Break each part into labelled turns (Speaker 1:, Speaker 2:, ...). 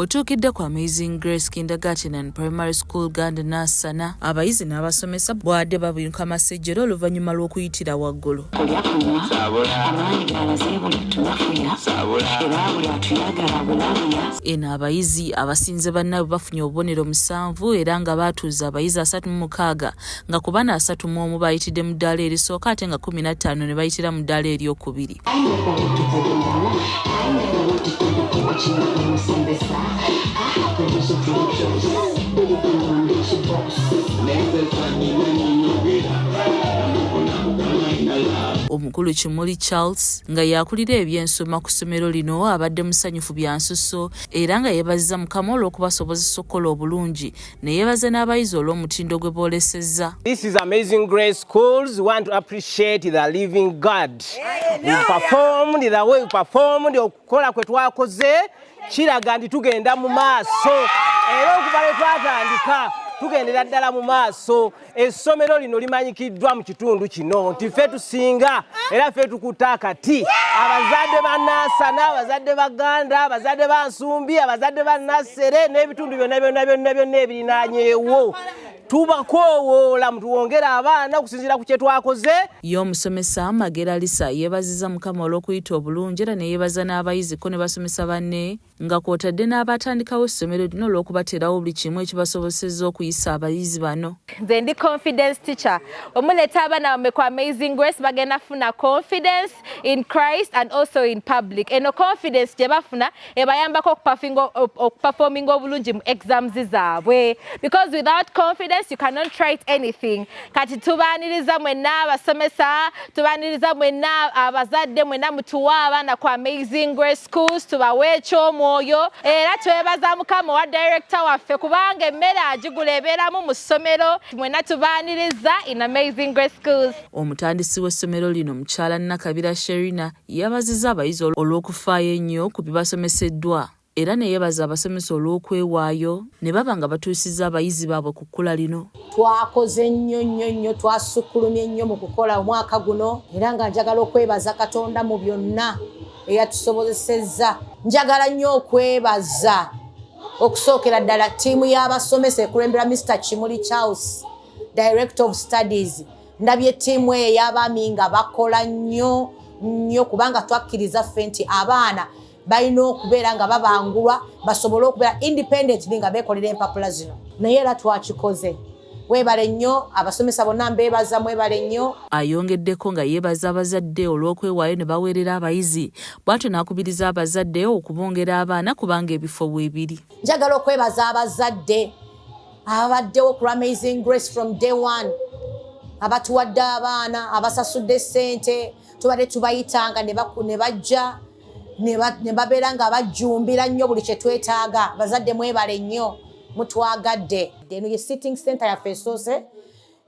Speaker 1: Wetuukidde ku Amazing Grace Kindergarten and Primary School Gand Nassana, abayizi n'abasomesa bwade babinuka masejjere oluvannyuma lw'okuyitira waggulu. Kulya kunywa amaanyi galaze buli tunafuya era buli atuyagala bulabuya. Eno abayizi abasinze bannaabwe bafunye obubonero musanvu era nga baatuuza abayizi asatu mu mukaaga nga ku bana asatu mu omu baayitidde mu ddaala erisooka ate nga kkumi na ttaano ne bayitira mu ddaala eryokubiri. Omukulu Kimuli Charles nga y'akulira eby'ensoma ku ssomero lino abadde musanyufu bya nsusso era nga yeebazizza Mukama olw'okubasobozesa okukola obulungi ne yeebaza n'abayizi olw'omutindo gwe boolesezza This is amazing
Speaker 2: grace schools want to appreciate the living God we performed the way we performed okukola kwe twakoze kiraga nti tugenda mu maaso era okuva lwe twatandika tugendera ddala mu maaso Essomero lino limanyikiddwa mu kitundu kino nti ffe tusinga era ffe tukutte akati. Abazadde ba Nansana, abazadde ba Ganda, abazadde ba Nsumbi, abazadde ba Nassere n'ebitundu byonna byonna byonna byonna ebirinaanyeewo tubakoowoola mutuwongere abaana okusinziira ku kye twakoze. Ye omusomesa
Speaker 1: Magera Lisa yeebazizza Mukama olw'okuyita obulungi era ne yeebaza n'abayizi ko ne basomesa banne. nga kwotadde n'abaatandikawo essomero lino olw'okubateerawo buli kimu ekibasobosezza okuyisa abayizi bano nze ndi confidence
Speaker 3: teacher omuleeta abaana bamwe ku amazing grace bagenda funa confidence in christ and also in public eno confidence gye bafuna ebayambako okuperforminga obulungi mu exams zaabwe because without confidence you cannot write anything kati tubaniriza mwenna abasomesa tubaniriza mwenna abazadde mwenna mutuwa abaana ku amazing grace schools tubawe ekyomwoyo era twebaza mukama owa director waffe kubanga emmere agigula ebeeramu mu ssomero mwenna tubaniriza in amazing grace schools omutandisi w'essomero
Speaker 1: lino mukyala nakabira sherina yabaziza abayizi olw'okufaayo ennyo ku bibasomeseddwa era ne yebaza abasomesa olw'okwewaayo ne baba nga batuusizza abayizi baabwe ku kkula lino. Twakoze nnyo
Speaker 4: nnyo nnyo, twasukkulumye nnyo mu kukola omwaka guno era nga njagala okwebaza Katonda mu byonna eyatusobozesezza. Njagala nnyo okwebaza okusookera ddala ttiimu y'abasomesa ekulemberwa Mister Kimuli Charles, Director of Studies. Ndabye ttiimu eyo ey'abaami nga bakola nnyo nnyo kubanga twakkiriza ffe nti abaana balina okubeera nga babangulwa basobole okubeera independent nga bekolera empapula zino naye era twakikoze webale nnyo abasomesa bonna mbeebaza mwebale nnyo ayongeddeko nga
Speaker 1: yeebaza abazadde olw'okwewaayo ne baweerera abayizi bwatyo n'akubiriza abazadde okubongera abaana kubanga ebifo weebiri njagala okwebaza
Speaker 4: abazadde ababaddewo ku amazing grace from day one abatuwadde abaana abasasudde ssente tubadde tubayitanga ne bajja ne babeera nga bajjumbira nnyo buli kye twetaaga bazadde mwebale nnyo mutwagadde eno ye sitting center yaffe esoose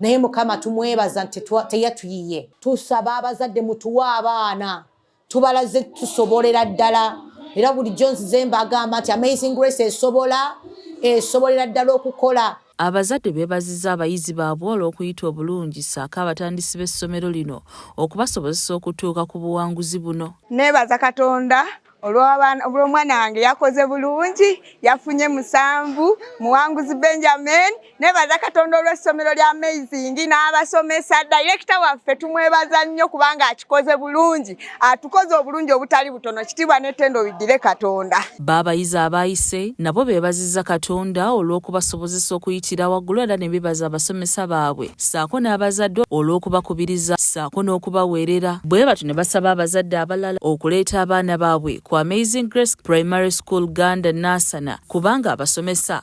Speaker 4: naye mukama tumwebaza nti teyatuyiye tusaba abazadde mutuwe abaana tubalaze tusobolera ddala era bulijjo nzize mbagamba nti amazing grace esobola esobolera ddala okukola Abazadde beebazizza
Speaker 1: abayizi baabwe olw'okuyita obulungi ssaako abatandisi b'essomero lino okubasobozesa okutuuka ku buwanguzi buno. Neebaza Katonda
Speaker 5: olw'omwana wange yakoze bulungi yafunye musanvu muwanguzi benjamin nebaza katonda olw'essomero lya amazing n'abasomesa direkita waffe tumwebaza nnyo kubanga akikoze bulungi atukoze obulungi obutali butono kitiibwa n'ettendo biddire katonda baabayizi abaayise
Speaker 1: nabo beebazizza katonda olw'okubasobozesa okuyitira waggulu era ne bebaza abasomesa baabwe ssaako n'abazadde olw'okubakubiriza ssaako n'okubaweerera bwe batyo ne basaba abazadde abalala okuleeta abaana baabwe ku amazing grace primary school ganda naasana kubanga abasomesa